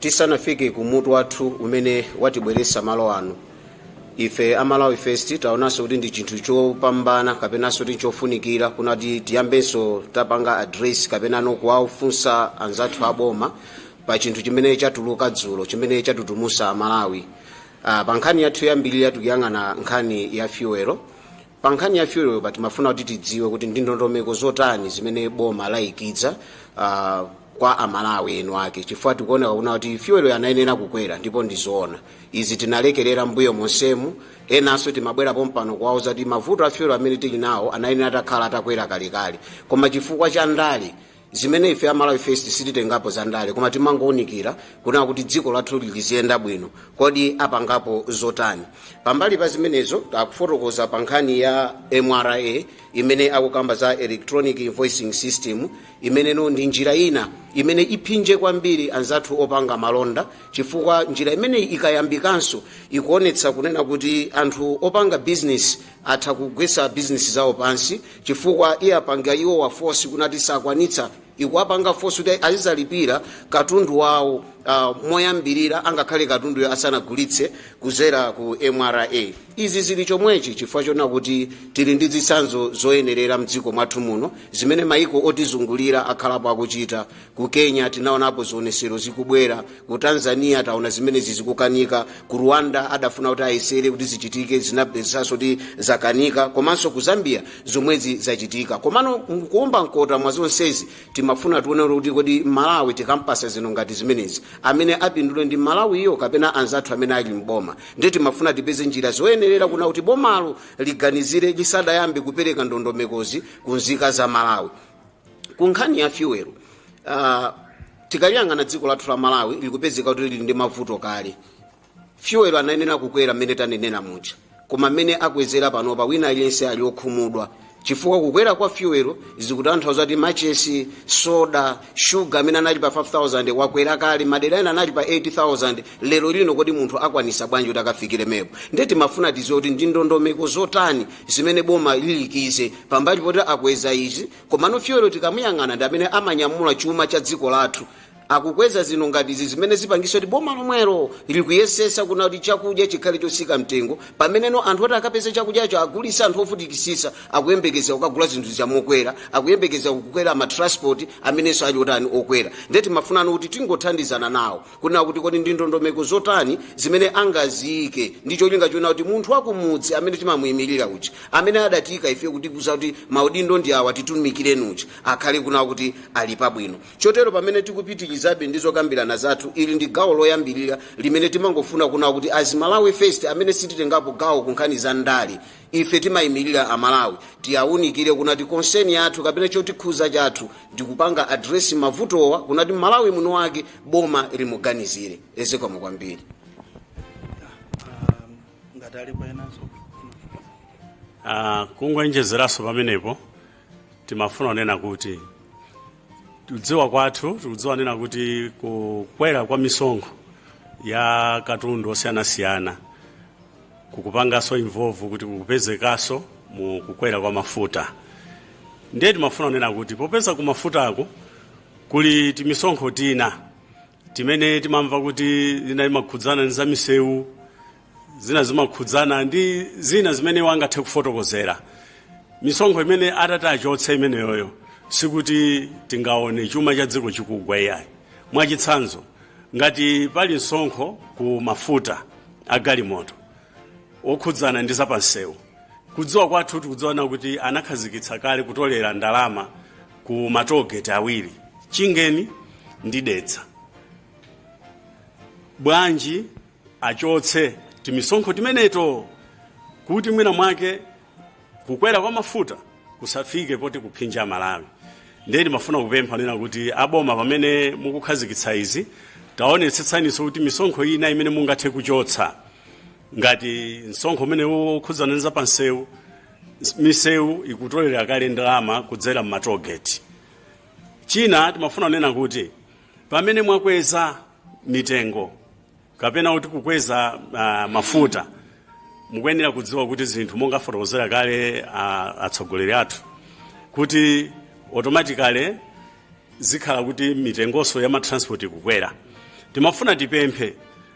Tisanafike ku mutu wathu umene watibweretsa malo ano, ife a Malawi First taonanso kuti ndi chinthu chopambana kapenanso kuti chofunikira kunena kuti tiyambenso tapanga address kapenanso kuwafunsa anzathu a boma pa chinthu chimene chatuluka dzulo chimene chatutumusa Malawi. Uh, pa nkhani yathu yambiri ya tikuyang'ana nkhani ya fuel Pa nkhani ya fuelpa timafuna kuti tidziwe kuti ndi ndondomeko zotani zimene boma laikiza uh, kwa amalawi eni ake chifukwa tikuoneka kunena kuti fuel anayenera kukwera ndipo ndizoona izi tinalekerera mbuyo monsemu enanso timabwera pompano kuwauza kuti mavuto a fuel amene tili nawo anayenera atakhala atakwera kalekale koma chifukwa cha ndale zimene ife a malawi first sititengapo za ndale koma timangounikira kunena kuti dziko lathu liziyenda bwino kodi apangapo zotani pambali pa zimenezo akufotokoza pa nkhani ya mra imene akukamba za electronic invoicing system imeneyo ndi njira ina imene iphinje kwambiri anzathu opanga malonda chifukwa njira imeneyi ikayambikanso ikuonetsa kunena kuti anthu opanga bizinesi atha kugwesa business zawo pansi chifukwa iwapanga iwowa force kunena kuti sakwanitsa ikuwapanga force kuti azizalipira katundu wawo uh, moyambirira angakhale katunduyo asanagulitse kuzera ku mra izi zili chomwechi chifukwa choona kuti tili ndi zitsanzo zoyenerera mdziko mwathu muno zimene maiko otizungulira akhalapo akuchita ku kenya tinaonapo zionesero zikubwera ku tanzania taona zimenezi zikukanika ku rwanda adafuna kuti ayesere kuti zichitike zinapezekaso kuti zakanika komanso ku zambia zomwezi zachitika komano kuomba mkota mwa zonsezi timafuna tione kuti kodi malawi tikampasa zinthu ngati zimenezi amene apindule ndi mmalawiyo kapena anzathu amene ali mboma ndiye timafuna tipeze njira zoyenerera kunena kuti bomalo liganizire lisadayambe kupereka ndondomekozi ku nzika za malawi ku nkhani ya fuel uh, tikaliyang'ana dziko lathu la malawi likupezeka kuti lili ndi mavuto kale fuel anayenera kukwera mmene tanenera muja koma mmene akwezera panopa wina aliyense ali okhumudwa chifukwa kukwera kwa fuel zikutanthauza kuti machesi soda shuga amene anali pa 5000 wakwera kale madera ena anali pa 8000 lero lino kodi munthu akwanisa bwanji kuti akafikiremepo nde timafuna tiziwe kuti ndi ndondomeko zotani zimene boma liyikize pambali poti akweza izi komano fuel tikamuyang'ana ndi amene amanyamula chuma cha dziko lathu akukweza zinthu ngati izi zimene zipangisa kuti boma lomwelo likuyesesa kunena kuti chakudya chikhale chosika mtengo pameneno anthu oti akapeza chakudyacho agulisa anthu ovutikisisa akuyembekeza kukagula zinthu zawo mokwera akuyembekeza kukwera matransport amenenso ali otani okwera nde timafunano kuti tingothandizana nawo kunena kuti kodi ndi ndondomeko zotani zimene angaziike ndi cholinga chonena kuti munthu wakumudzi amene timamuyimirira uja amene adatiyika ife kutikuza kuti maudindo ndi awa titumikireni uja akhale kunena kuti ali pabwino chotero pamene tikupitirizabe ndi zokambirana zathu ili ndi gawo loyambirira limene timangofuna kunena kuti as Malawi First amene sititengapo gawo ku nkhani za ndale Ife timaimilira a Malawi tiawunikire kunena kuti concern yathu kapena chotikhuza chathu ndikupanga address mavutowa kunena kuti Mmalawi muno wake boma limuganizire. E zikomo kwambiri. Um, ngati alipo enanso Ah, kungoonjezeraso pamenepo timafuna kunena kuti kudziwa kwathu tikudziwa kunena kuti kukwera kwa misonkho ya katundu osiyanasiyana kukupangaso involve kuti kukupezekaso mu kukwera kwa mafuta ndiye timafuna kunena kuti popeza ku mafutako kuli timisonkho tina timene timamva kuti zina zimakhudzana ndi zamisewu zina zimakhudzana ndi zina zimene angathe kufotokozera misonkho imene atati achotse imeneyoyo sikuti tingaone chuma cha dziko chikugwa iyayi mwachitsanzo ngati pali msonkho ku mafuta a galimoto okhudzana ndi zapansewu kudziwa kwathu tikudziwa kunena kuti anakhazikitsa kale kutolera ndalama ku matollgate awiri Chingeni ndi Dedza bwanji achotse timisonkho timeneto kuti mwina mwake kukwera kwa mafuta kusafike poti kumphinja Mmalawi ndiye timafuna kupempha kunena kuti aboma pamene mukukhazikitsa izi taonetsetsaniso kuti misonkho ina imene mungathe kuchotsa ngati msonkho umene ukukhudzana ndi zapansewu misewu ikutolera kale ndalama kudzera m'matollgate china timafuna kunena kuti pamene mwakweza mitengo kapena kuti kukweza uh, mafuta mukuyenera kudziwa kuti zinthu monga afotokozera kale uh, atsogoleri athu kuti automatically zikhala kuti mitengonso ya matransport ikukwera timafuna tipemphe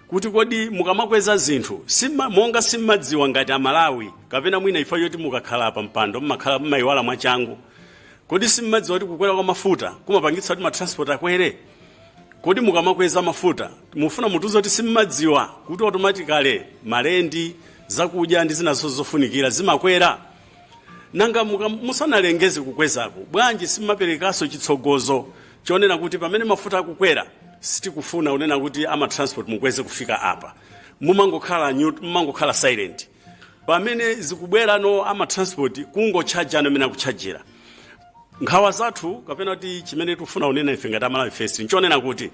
kuti kodi mukamakweza zinthu sima, monga simmadziwa ngati amalawi kapena mwina ifa yoti mukakhala pa mpando mmakhala mmayiwala mwachangu kodi simmadziwa kuti kukwera kwa mafuta kumapangitsa kuti matransport akwere Kodi mukamakweza mafuta mufuna mutiuze kuti simmadziwa kuti automatically malendi zakudya ndi zina zonse zofunikira zimakwera? Nanga muka- musanalengeze kukwezako bwanji simmaperekanso chitsogozo chonena kuti pamene mafuta akukwera sitikufuna kunena kuti ama transport mukweze kufika apa mumangokhala neut- mumangokhala silent pamene zikubwera no amatransport kungotchaja momwe akutchajira nkhawa zathu kapena kuti chimene tikufuna kunena ife ngati malawi first nchonena kuti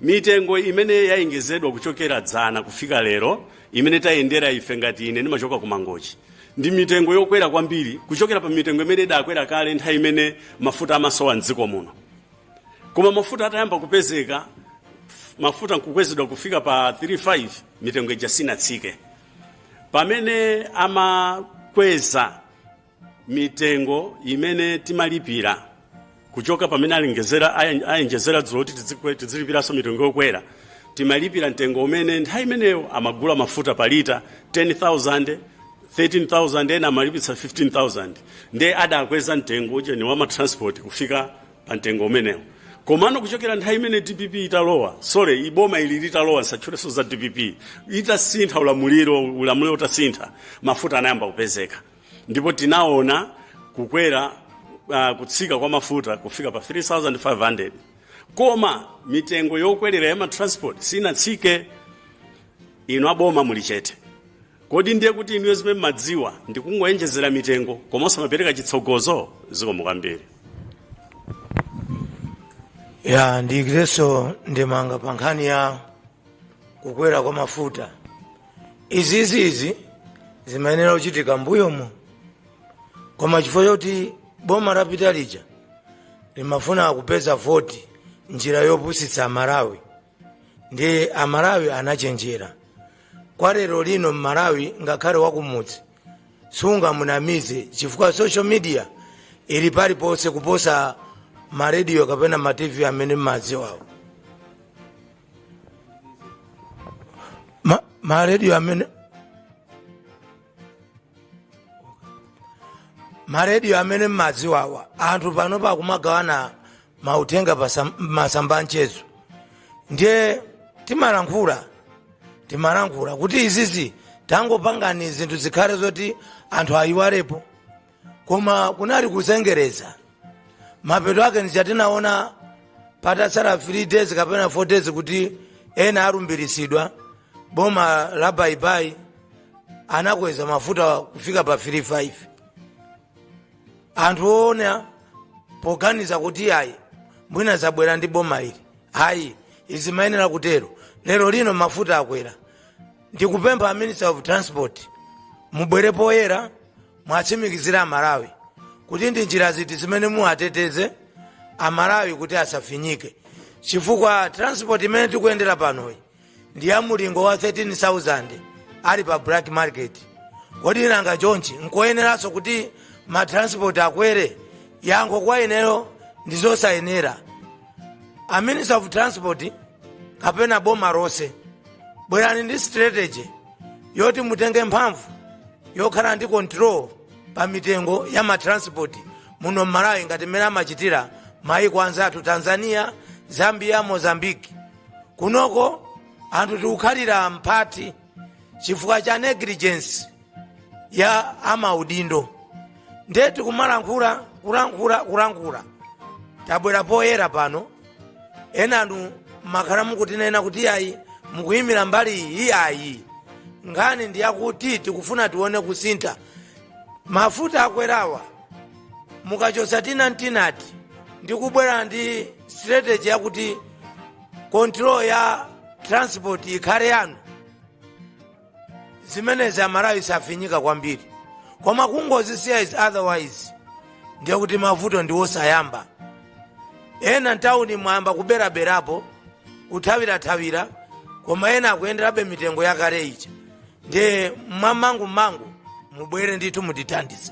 mitengo imene yaonjezedwa kuchokera dzana kufika lero imene tayendera ife ngati ine ndimachoka ku mangochi ndi mitengo yokwera kwambiri kuchokera pa mitengo imene idakwera kale nthawi imene mafuta amasowa mdziko muno koma mafuta atayamba kupezeka mafuta nkukwezedwa kufika pa 35 mitengo ija sinatsike pamene amakweza mitengo imene timalipira kuchoka pamene ayen- ayenjezera dzulo kuti tidzikwe- tidzilipiranso mitengo yokwera timalipira mtengo umene nthawi imeneyo amagula mafuta pa lita 10000 13000 ena amalipitsa 15000 nde adakweza mtengo ujeni wa matransport kufika pa mtengo umenewo komano kuchokera nthawi imene dpp italowa sorry boma ili litalowa nsatchulenso za dpp itasintha ulamuliro ulamuliro utasintha mafuta anayamba kupezeka ndipo tinaona kukwera uh, kutsika kwa mafuta kufika pa 3500 koma mitengo yokwelera ya matransport sinatsike inu aboma muli chete Kodi ndiye kuti inuyo zimene mmadziwa ndi kungoyenjezera mitengo koma osamapereka chitsogozo? Zikomo kwambiri. ya ndiikirenso ndemanga pa nkhani ya kukwera kwa mafuta izizizi zimayenera kuchitika mbuyomu koma chifukwa choti boma lapita lija limafuna kupeza voti njira yopusitsa amalawi ndiye amalawi anachenjera kwa lero lino mmalawi ngakhale wakumudzi sungamunamize chifukwa social media ili paliponse kuposa marediyo kapena matv amene mmadziwawo Ma- marediyo amene marediyo amene mmadziwawa anthu panopa akumagawana mauthenga pasam- masamba anchezo ndiye timalankhula timalankhula kuti izizi tangopangani zinthu zikhale zoti anthu ayiwalepo koma kunali kuzengereza mapeto ake ndija tinaona patatsala 3 days kapena 4 days kuti ena alumbiritsidwa boma la baibai anakweza mafuta kufika pa 35 anthu ena poganiza kuti ayi mwina zabwera ndi boma ili ayi zimayenera kutero lero lino mafuta akwera ndikupempha minister of transport mubwere poyera muwatsimikizire amalawi kuti ndi njira ziti zimene muwateteze amalawi kuti asafinyike chifukwa transport imene tikuyendera panoyi ndi ya mulingo wa 13000 ali pa black market kodi nanga chonchi nkoyeneranso kuti matransport akwere yankho kwa ineyo ndi zosayenera a minister of transport kapena boma lonse bwerani ndi strategy yoti mutenge mphamvu yokhala ndi control pa mitengo ya matransport muno mmalawi ngati mmene amachitira maiko anzathu tanzania zambia mozambiki kunoko anthu tikukhalira mphati chifukwa cha negligence ya amaudindo nde tikumalankhula kulankhula kulankhula tabwera poyera pano enanu makhala mukutinena kuti ayi mukuyimira mbali iyi ayi nkhani ndi yakuti tikufuna tione kusintha mafuta akwerawa mukachosa tinamtinati ndi kubwera ndi strategy yakuti control ya transport ikhale yanu zimenezi amalawi safinyika kwambiri koma kungozisiya izi otherwise ndiye kuti mavuto ndi osayamba ena ntawuni mwayamba kubwerabwerapo kuthawirathawira koma ena akuyenderabe mitengo yakale ija ndiye mwamangumangu mubwere ndithu mutithandize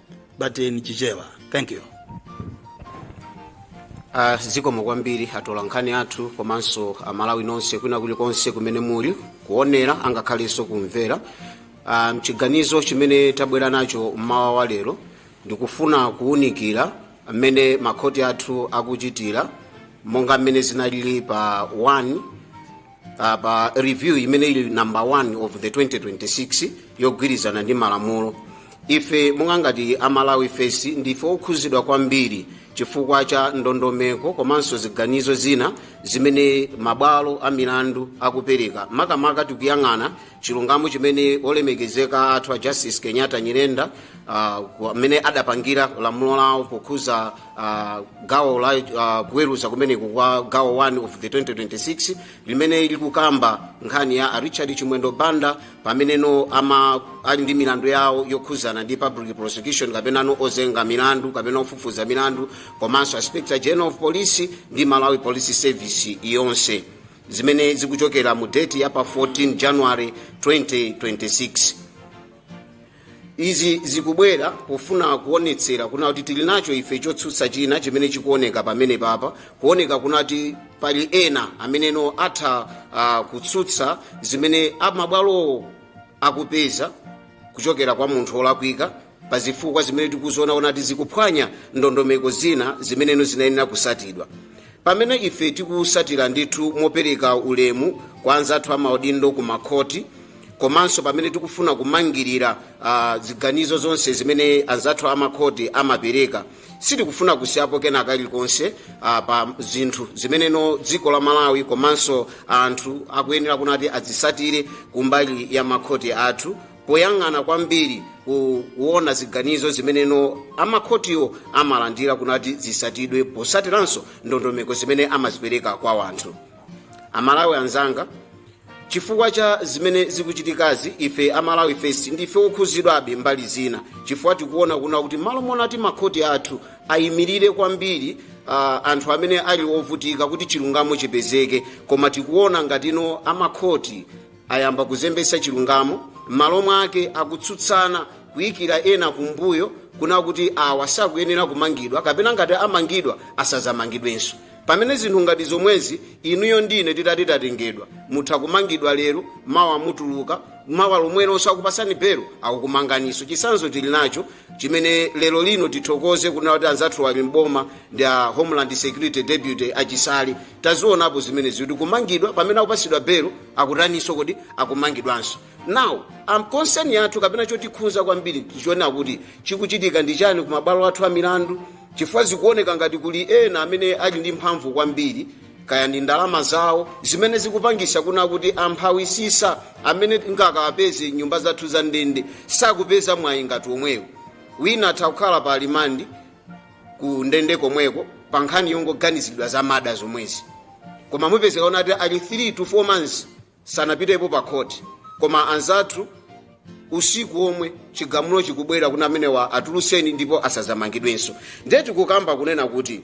but in Chichewa. Thank you. Uh, zikomo kwambiri atolankhani athu komanso amalawi nonse kwina kulikonse kumene muli kuonera angakhalenso kumvera uh, mchiganizo chimene tabwera nacho mmawa wa lero ndikufuna kuwunikira mmene makhoti athu akuchitira monga mmene zinalili pa 1 uh, pa review imene ili number 1 of the 2026 yogwirizana ndi malamulo ife monga ngati a malawi first ndife okhuzidwa kwambiri chifukwa cha ndondomeko komanso ziganizo zina zimene mabwalo a milandu akupereka makamaka tikuyang'ana chilungamo chimene olemekezeka athu a justice kenyatta nyirenda amene uh, adapangira lamulo lawo pokhuza uh, gawo la uh, kuweruza kumeneku kwa gawo 1 of the 2026 limene likukamba nkhani ya a richard chimwendo banda pameneno ama ali ndi milandu yawo yokhuzana ndi public prosecution kapenano ozenga milandu kapena ofufuza milandu komanso inspector general of police ndi malawi police service yonse zimene zikuchokera mu date ya pa 14 january 2026 izi zikubwera pofuna kuonetsera kuna kuti tili nacho ife chotsutsa china chimene chikuoneka pamene papa kuoneka kuna kuti pali ena ameneno atha uh, kutsutsa zimene amabwalowo akupeza kuchokera kwa munthu olakwika pa zifukwa zimene tikuzionaona kuti zikuphwanya ndondomeko zina zimeneno zinayenera kusatidwa pamene ife tikusatira ndithu mopereka ulemu kwa anzathu amaudindo ku makhoti komanso pamene tikufuna kumangirira uh, ziganizo zonse zimene anzathu amakhoti amapereka sitikufuna kusiyapo kena kalikonse uh, pa zinthu zimeneno dziko la malawi komanso anthu akuyenera kunati azisatire kumbali ya makhoti athu poyang'ana kwambiri kuona ziganizo zimeneno amakhotiwo amalandira kunati zisatidwe posatiranso ndondomeko zimene amazipereka kwa wanthu amalawi anzanga chifukwa cha zimene zikuchitikazi ife a malawi first ndife okhuzidwabe mbali zina chifukwa tikuona kuna kuti malo monati makhoti athu ayimirire kwambiri uh, anthu amene ali ovutika kuti chilungamo chipezeke koma tikuona ngatino amakhoti ayamba kuzembesa chilungamo m'malo mwake akutsutsana kuyikira ena kumbuyo kuna kuti awa sakuyenera kumangidwa kapena ngati amangidwa asazamangidwenso pamene zinthu ngati zomwezi inuyo ndine titati tatengedwa mutha kumangidwa lero mawa mutuluka mawa lomwelonso akupasani belo akukumanganiso chisanzo tili nacho chimene lero lino tithokoze kunena kuti anzathu ali m'boma ndi a homeland security deputy achisale tazionapo zimenezi kuti kumangidwa pamene akupasidwa belo akutaniso kodi akumangidwanso now concern yathu kapena chotikhuza kwambiri tichiona kuti chikuchitika ndi chani ku mabwalo athu a milandu chifukwa zikuoneka ngati kuli ena amene ali ndi mphamvu kwambiri kaya ndi ndalama zawo zimene zikupangisa kuna kuti amphawisisa amene tingakawapeze nyumba zathu za ndende sakupeza mwayi ngati omwewo wina atha kukhala pa limandi ku ndende komweko pa nkhani yongoganizidwa za mada zomwezi koma mupezeka kunati ali 3 to 4 months sanapitepo pa khoti koma anzathu usiku omwe chigamulo chikubwera kuti amenewa atulutseni ndipo asazamangidwenso ndiye tikukamba kunena kuti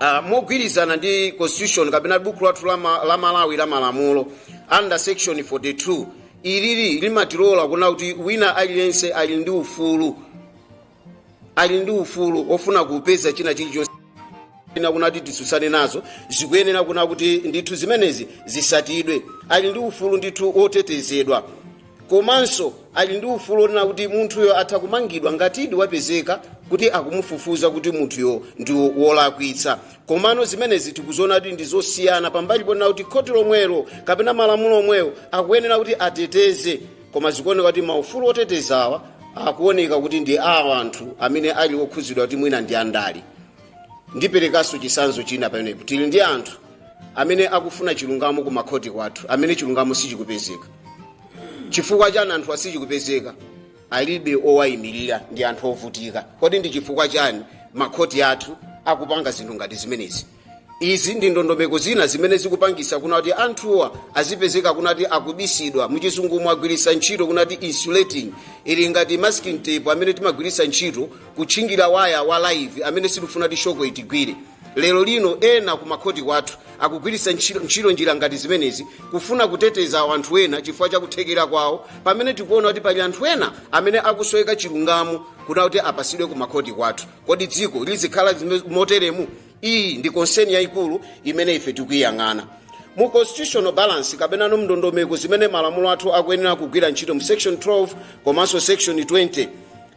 uh, mogwirizana ndi constitution kapena buku lathu la ma- la malawi la malamulo under section 42 ilili limatilola kuna kuti wina aliyense ali ndi ufulu ali ndi ufulu ofuna kupeza china chilichonse kunati tisutsane nazo zikuyenera kuna kuti ndithu zimenezi zisatidwe ali ndi ufulu ndithu otetezedwa komanso ali ndi ufulu onena kuti munthuyo atha kumangidwa ngatidi wapezeka kuti akumufufuza kuti munthuyo ndi wo- wolakwitsa komano zimenezi tikuziona kuti ndi zosiyana pambali ponena kuti khoti lomwelo kapena malamulo omwewo akuyenera kuti ateteze koma zikuoneka kuti maufulu otetezawa akuoneka kuti ndi a anthu amene ali okhudzidwa kuti mwina ndi andale ndiperekanso chisanzo china pamenepo tili ndi anthu amene akufuna chilungamo ku makhoti kwathu amene chilungamo sichikupezeka chifukwa chani anthu asichikupezeka alibe owayimirira ndi anthu ovutika kodi ndi chifukwa chani makhoti athu akupanga zinthu ngati zimenezi izi ndi ndondomeko zina zimene zikupangisa kuna kuti anthuwa azipezeka kuna kuti akubisidwa muchizungu mwagwirisa ntchito kuna kuti insulating ili ngati masking tape amene timagwirisa ntchito kutchingira waya wa live amene sitifuna kuti shoko itigwire lero lino ena kumakhoti kwathu akugwirisa ntchito njira ngati zimenezi kufuna kuteteza anthu ena chifukwa cha kuthekera kwawo pamene tikuona kuti pali anthu ena amene akusoweka chilungamo kuna kuti apasidwe kumakhoti kwathu kodi dziko lizikhala moteremu iyi ndi konseni yayikulu imene ife tikuyiyang'ana mu constitutional balance kapenano mndondomeko zimene malamulo athu akuyenera kugwira ntchito mu section 12 komanso section 20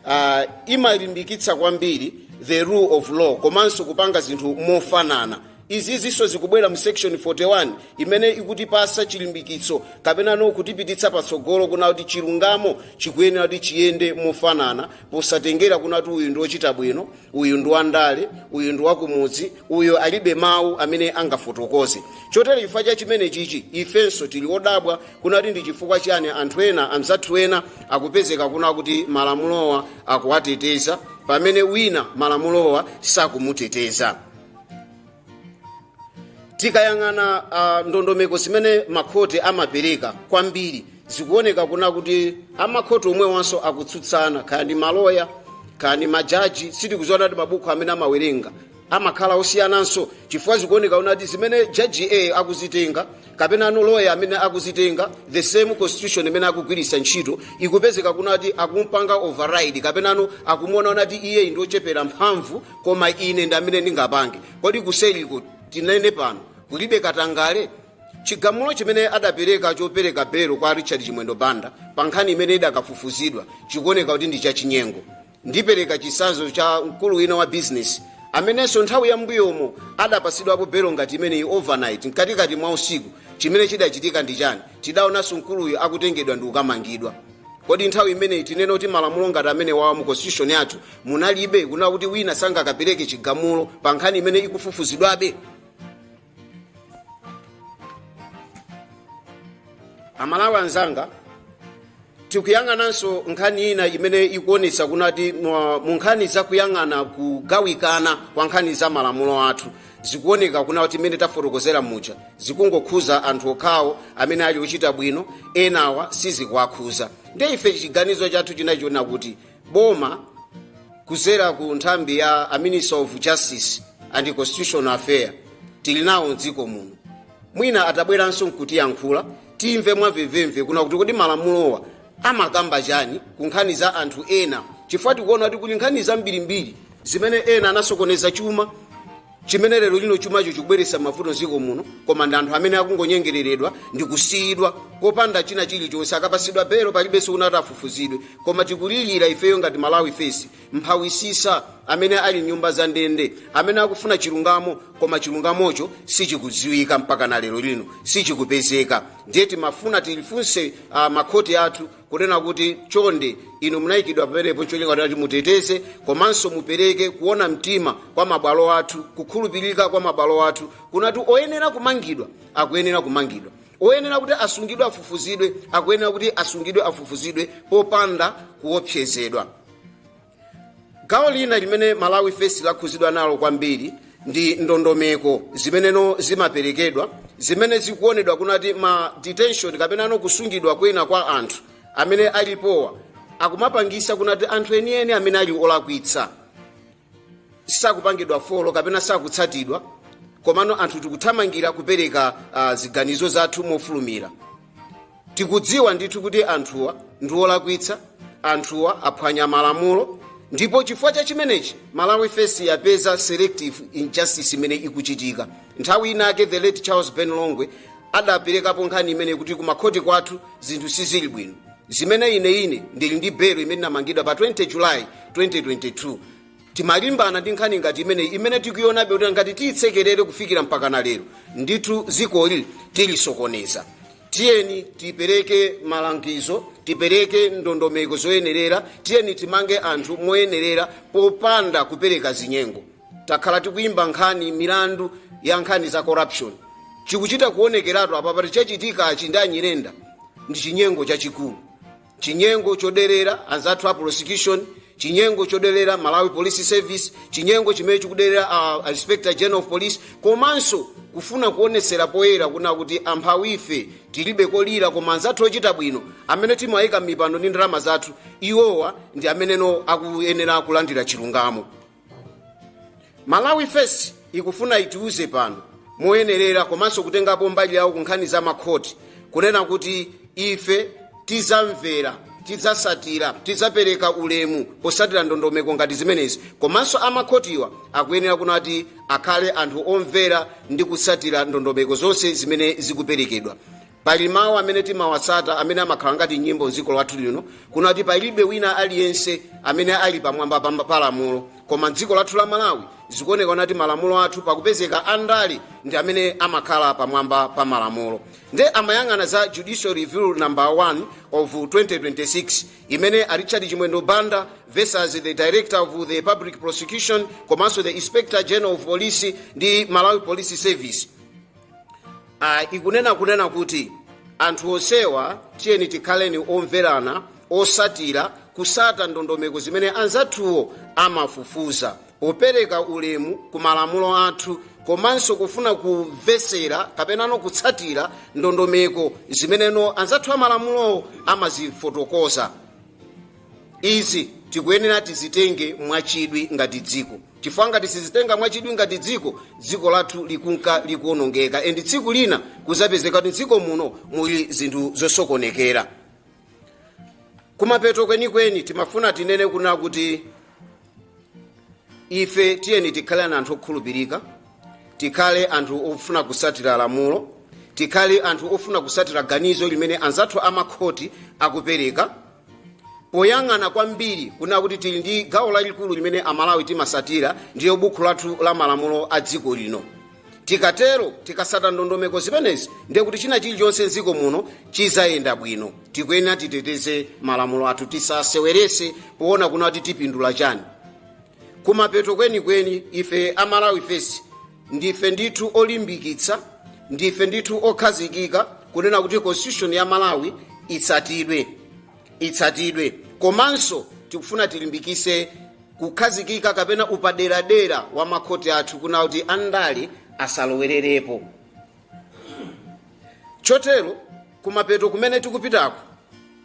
uh, imalimbikitsa kwambiri the rule of law komanso kupanga zinthu mofanana izizinso zikubwera mu section 41 imene ikutipasa chilimbikitso kapena no kutipititsa patsogolo kuna kuti chilungamo chikuyenera kuti chiyende mofanana posatengera kuna kuti uyu ndi wochita bwino uyu ndi wandale uyu ndi wakumudzi uyu alibe mawu amene angafotokoze chotero chifukwa cha chimene chichi ifenso tili odabwa kuna kuti ndi chifukwa chani anthu ena anzathu ena akupezeka kuna kuti malamulowa akuwateteza pamene wina malamulowa sakumuteteza tikayang'ana uh, ndondomeko zimene makhoti amapereka kwambiri zikuoneka kuna kuti amakhoti omwewanso akutsutsana kaya ndi maloya kaya ndi majaji sitikudziwa kuti mabuku amene amawerenga amakhala osiyananso chifukwa zikuoneka kuna kuti zimene jaji a akuzitenga kapenano loya amene akuzitenga the same constitution imene akugwiritsa ntchito ikupezeka kuna kuti akumpanga override kapenano akumuona kuti iye ndi ochepera mphamvu koma ine ndi amene ndingapange kodi kuseliko tinene pano kulibe katangale chigamulo chimene adapereka chopereka belo kwa richard chimwendo banda pa nkhani imene idakafufuzidwa chikuoneka kuti ndi chachinyengo ndipereka chisanzo cha mkulu wina wa bizinesi amenenso nthawi ya mbuyomo adapasidwapo belo ngati imeneyi overnight mkatikati mwa usiku chimene chidachitika ndi chani tidaonanso mkuluyo akutengedwa ndi kukamangidwa kodi nthawi imeneyi tinene kuti malamulo ngati amene wawa mu constitution yathu munalibe kuna kuti wina sangakapereke chigamulo pa nkhani imene ikufufuzidwabe amalawi anzanga tikuyang'ananso nkhani ina imene ikuonetsa kunati mu nkhani zakuyang'ana kugawikana kwa nkhani za malamulo athu zikuoneka kuna kuti mmene tafotokozera muja zikungokhuza anthu okhawo amene ali ochita bwino enawa sizikuwakhuza nde ife chiganizo chathu chinachiona kuti boma kuzera ku nthambi ya a ministry of justice and constitutional affairs tili nawo mdziko muno mwina atabweranso nkutiyankhula timve mwamvemvemve kuna kuti kodi malamulowa amakamba chani ku nkhani za anthu ena chifukwa tikuona kuti kuli nkhani zambirimbiri zimene ena anasokoneza chuma chimene lero lino chumacho chikubweretsa mavuto mdziko muno koma ndi anthu amene akungonyengereredwa ndi kusiyidwa kopanda china chilichonse akapasidwa belo palibenso kunati afufuzidwe koma tikulilira ifeyo ngati malawi first amphawitsitsa amene ali mnyumba za ndende amene akufuna chilungamo koma chilungamocho sichikudziwika mpaka na lero lino sichikupezeka ndiye timafuna tilifunse uh, makhoti athu kunena kuti chonde inu munayikidwa pamenepo cholinga kuti muteteze komanso mupereke kuona mtima kwa mabwalo athu kukhulupirika kwa mabwalo athu kunati oyenera kumangidwa akuyenera kumangidwa oyenera kuti asungidwe afufuzidwe akuyenera kuti asungidwe afufuzidwe popanda kuopsezedwa gawo lina limene malawi first lakhuzidwa nalo kwambiri ndi ndondomeko zimeneno zimaperekedwa zimene zikuonedwa kunati ma detention kapena ano kusungidwa kwina kwa anthu amene alipowa akumapangisa kunati anthu enieni amene ali olakwitsa sakupangidwa follow kapena sakutsatidwa komano anthu tikuthamangira kupereka uh, ziganizo zathu mofulumira tikudziwa ndithu kuti anthuwa ndi olakwitsa anthuwa aphwanya malamulo ndipo chifukwa cha chimenechi malawi first yapeza selective injustice imene ikuchitika nthawi inake the late charles ben longwe adaperekapo nkhani imene kuti kumakhoti kwathu zinthu sizili bwino zimene ine ine ndili ndi belo imene ndinamangidwa pa 20 july 2022 timalimbana ndi nkhani ngati imeneyi imene tikuionabe kuti ngati tiyitsekerere kufikira mpakana lero ndithu dzikoli tilisokoneza tiyeni tipereke malangizo tipereke ndondomeko zoyenerera tiyeni timange anthu moyenerera popanda kupereka zinyengo takhala tikuyimba nkhani milandu ya nkhani za corruption chikuchita kuonekeratu apa pati chachitikachi ndi anyirenda ndi chinyengo chachikulu chinyengo choderera anzathu a prosecution chinyengo choderera malawi police service chinyengo chimene chikuderera uh, inspector general of police komanso kufuna kuonetsera poyera kuna kuti amphawife tilibe kolira koma anzathu ochita bwino amene timawayika m'mipando ndi ndalama zathu iwowa ndi ameneno akuyenera kulandira chilungamo malawi first ikufuna itiuze pano moyenerera komanso kutengapo mbali yawo ku nkhani za makhoti kunena kuti ife tizamvera tidzasatira tidzapereka ulemu posatira ndondomeko ngati zimenezi komanso amakhotiwa akuyenera kunati akhale anthu omvera ndi kusatira ndondomeko zonse zimene zikuperekedwa pali mawu amene timawatsata amene amakhala ngati nyimbo mdziko lathu lino kuna kuti palibe wina aliyense amene ali pamwamba pa pa lamulo koma mdziko lathu la malawi zikuoneka kuti malamulo athu pakupezeka andale ndi amene amakhala pamwamba pa malamulo nde amayang'ana za judicial review number 1 of 2026 imene a richard chimwendo banda versus the director of the public prosecution komanso the inspector general of police ndi malawi police service uh, ikunena kunena kuti anthu onsewa tiyeni tikhaleni omverana osatira kusata ndondomeko zimene anzathuwo amafufuza opereka ulemu ku malamulo athu komanso kufuna kumvesera kapenano kutsatira ndondomeko zimeneno anzathu amalamulowo amazifotokoza Izi tikuyenera tizitenge mwachidwi ngati dziko chifukwa ngati sizitenga mwachidwi ngati dziko dziko lathu likunka likuonongeka and tsiku lina kuzapezeka kuti dziko muno muli zinthu zosokonekera kumapeto kwenikweni timafuna tinene kuna kuti ife tiyeni tikhale anthu okhulupirika tikhale anthu ofuna kusatira lamulo tikhale anthu ofuna kusatira ganizo limene anzathu amakhoti akupereka poyang'ana kwambiri kuna kuti tili ndi gawo lalikulu limene amalawi timasatira ndiyo bukhu lathu la malamulo a dziko lino tikatero tikasata ndondomeko zimenezi ndiye kuti china chilichonse mdziko muno chizayenda bwino tikuyenera titeteze malamulo athu tisasewerese poona kuna kuti tipindula chani kumapeto kwenikweni ife a malawi first ndife ndithu olimbikitsa ndife ndithu okhazikika kunena kuti constitution ya malawi itsatidwe itsatidwe komanso tikufuna tilimbikise kukhazikika kapena upaderadera wa makhoti athu kuna kuti andale asalowererepo chotero Kumapeto kumene tikupitako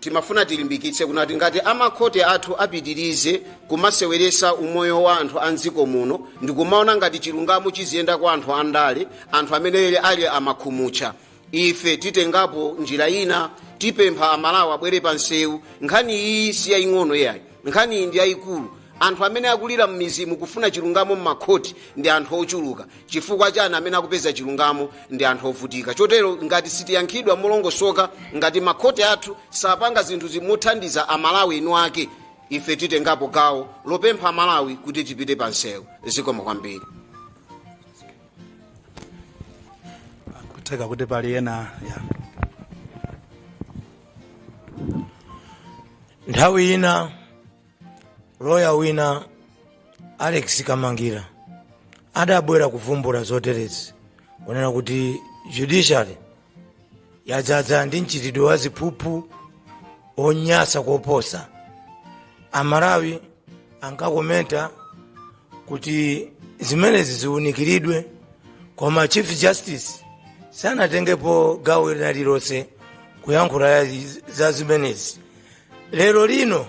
timafuna tilimbikitse kunati ngati amakhoti athu apitirize kumaseweresa umoyo wa anthu a mdziko muno ndikumaona ngati chilungamo chiziyenda kwa anthu andale anthu amene ali amakhumutcha ife titengapo njira ina tipempha amalawi abwere pa nsewu nkhani iyi si yaying'ono iyayi nkhani iyi ndi yayikulu anthu amene akulira m'mizimu kufuna chilungamo m'makhoti ndi anthu ochuluka chifukwa chani amene akupeza chilungamo ndi anthu ovutika chotero ngati sitiyankhidwa molongosoka ngati makhoti athu sapanga zinthu zimothandiza amalawi inuyo ife titengapo gawo lopempha amalawi kuti tipite pa msewu zikomo kwambiri kutheka kuti pali ena nthawi ina loya wina alex kamangila adabwera kuvumbula zoterezi kunena kuti judiciary yadzaza ndi mchitidwe wa ziphuphu wonyasa koposa amalawi ankakomenta kuti zimenezi ziwunikiridwe koma chief justice sanatengepo gawo lina lililonse kuyankhula za zimenezi lero lino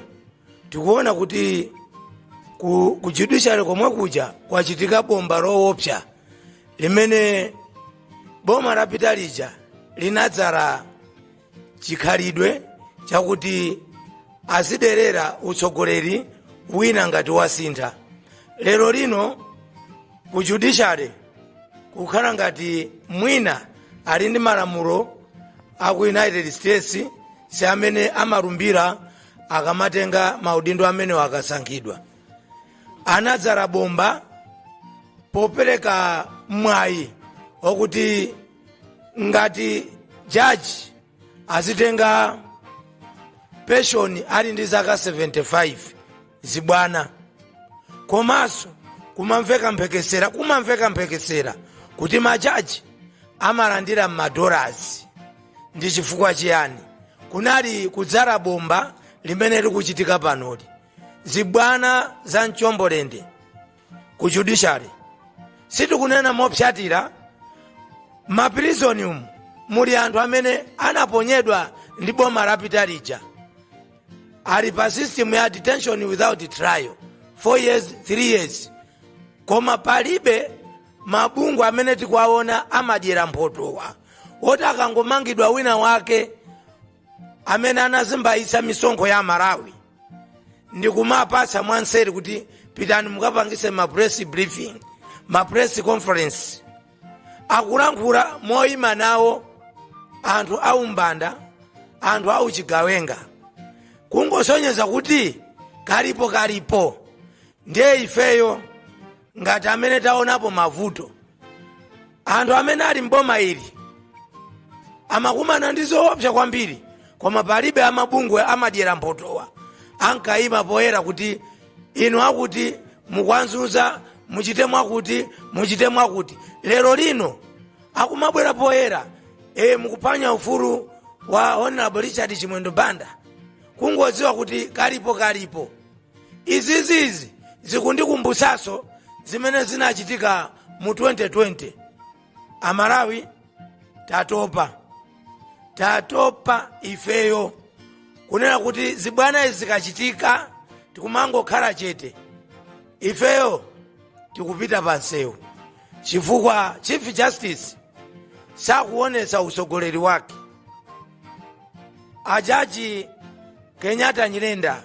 tikuona kuti ku judiciary komwe kuja kwachitika bomba lowopsa limene boma lapita lija linadzala chikhalidwe chakuti aziderera utsogoleri wina ngati wasintha lero lino ku judiciary kukhala ngati mwina ali ndi malamulo a ku united states si amene amalumbira akamatenga maudindo amenewo akasankhidwa anadzala bomba popereka mwayi wakuti ngati jaji azitenga penshoni ali ndi zaka 75 zibwana komanso kumamveka mphekesera kumamveka mphekesera kuti majaji amalandira m'madolasi ndi chifukwa chiyani kunali kudzala bomba limene likuchitika panoli zibwana za mchombolende ku judiciary sitikunena mopsatira mapirizoni umu muli anthu amene anaponyedwa ndi boma lapita lija ali pa system ya detention without trial 4 years 3 years koma palibe mabungwe amene tikuwaona amadyera mphotowa oti akangomangidwa wina wake amene anazembayitsa misonkho ya malawi ndikumapatsa mwanseri kuti pitani mukapangitse ma press briefing ma press conference akulankhula moyima nawo anthu aumbanda anthu auchigawenga kungosonyeza kuti kalipo kalipo ndiye ifeyo ngati amene taonapo mavuto anthu amene ali mboma ili amakumana ndi zoopsa kwambiri koma palibe amabungwe amadyera mphotowa ankayima poyera kuti inu akuti mukuwazunza muchite mwakuti muchite mwakuti lero lino akumabwera poyera e mukuphwanya ufulu wa honorable richard chimwendo banda kungodziwa kuti kalipo kalipo izizizi zikundikumbutsanso zimene zinachitika mu 2020 amalawi tatopa tatopa ifeyo kunena kuti zibwanazi zikachitika tikumangokhala chete ifeyo tikupita pansewu chifukwa chief justice sakuonetsa utsogoleri wake ajaji kenyatta nyirenda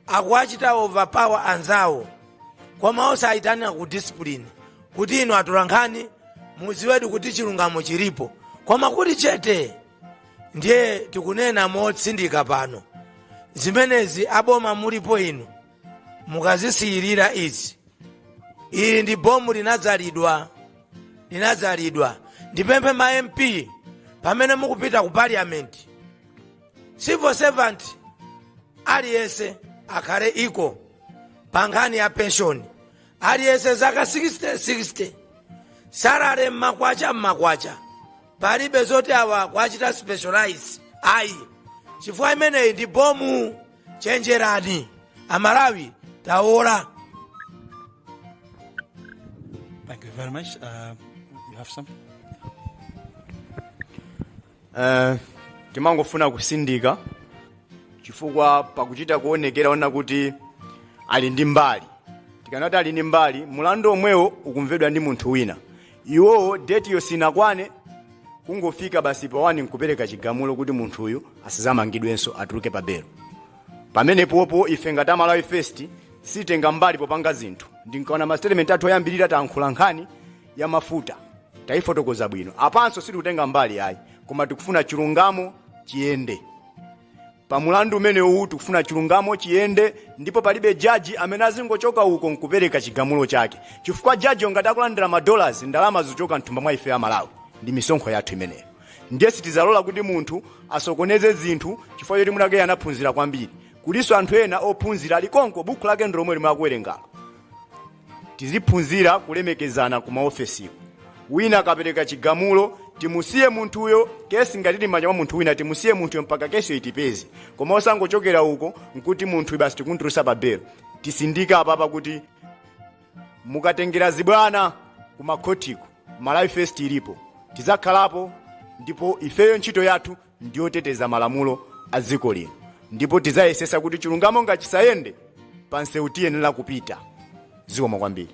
akuwachita overpower anzawo koma osawayitanira ku discipline kuti inu atolankhani mudziwedi kuti chilungamo chilipo koma kuti chete ndiye tikunena motsindika pano zimenezi aboma mulipo inu mukazisiyirira izi ili ndi bomu linadzalidwa linadzalidwa ndipemphe ma mp pamene mukupita ku parliament civil servant aliyense akhale equal pa nkhani ya penshoni aliyense zaka 60 60 salary mmakwacha mmakwacha palibe zoti awa kuwachita specialize ayi chifukwa imeneyi ndi bomu chenjerani amalawi taola Thank you very much. Uh, you have some? Eh, timangofuna kutsindika chifukwa pakuchita kuonekera ona kuti ali ndi mbali tikamati ali ndi mbali mlandu omwewo ukumvedwa ndi munthu wina iwowo date yo sinakwane kungofika basi pa 1 nkupereka chigamulo kuti munthu uyu asadzamangidwenso atuluke pa belo pamenepopo ife ngati a Malawi First sititenga mbali popanga zinthu mukaona masitetimenti athu oyambirira tayankhula nkhani ya mafuta tayifotokoza bwino apanso sitikutenga mbali ayi koma tikufuna chilungamo chiyende pa mlandu umenewuwu tikufuna chilungamo chiyende ndipo palibe jaji amene azingochoka uko nkupereka chigamulo chake chifukwa jaji ngati akulandira madollars ndalama zochoka mthumba mwa ife amalawi ndi misonkho yathu imeneyo ndiye sitidzalola kuti munthu asokoneze zinthu chifukwa choti mnzake anaphunzira kwambiri kulinso anthu ena ophunzira alikonko buku lake ndilomwe limwe akuwerengalo tiziphunzira kulemekezana ku maofesiko wina akapereka chigamulo timusiye munthuyo kesi ngati ili m'manja mwa munthu wina timusiye munthuyo mpaka kesiyo itipeze koma osangochokera uko nkuti munthu basi tikumtulutsa pa belo tisindike apapa kuti mukatengera zibwana ku makhotiko malawi first ilipo tidzakhalapo ndipo ifeyo ntchito yathu ndiyoteteza malamulo a dziko lino ndipo tidzayesetsa kuti chilungamo ngati chisayende pa msewu tiyenera kupita zikomo kwambiri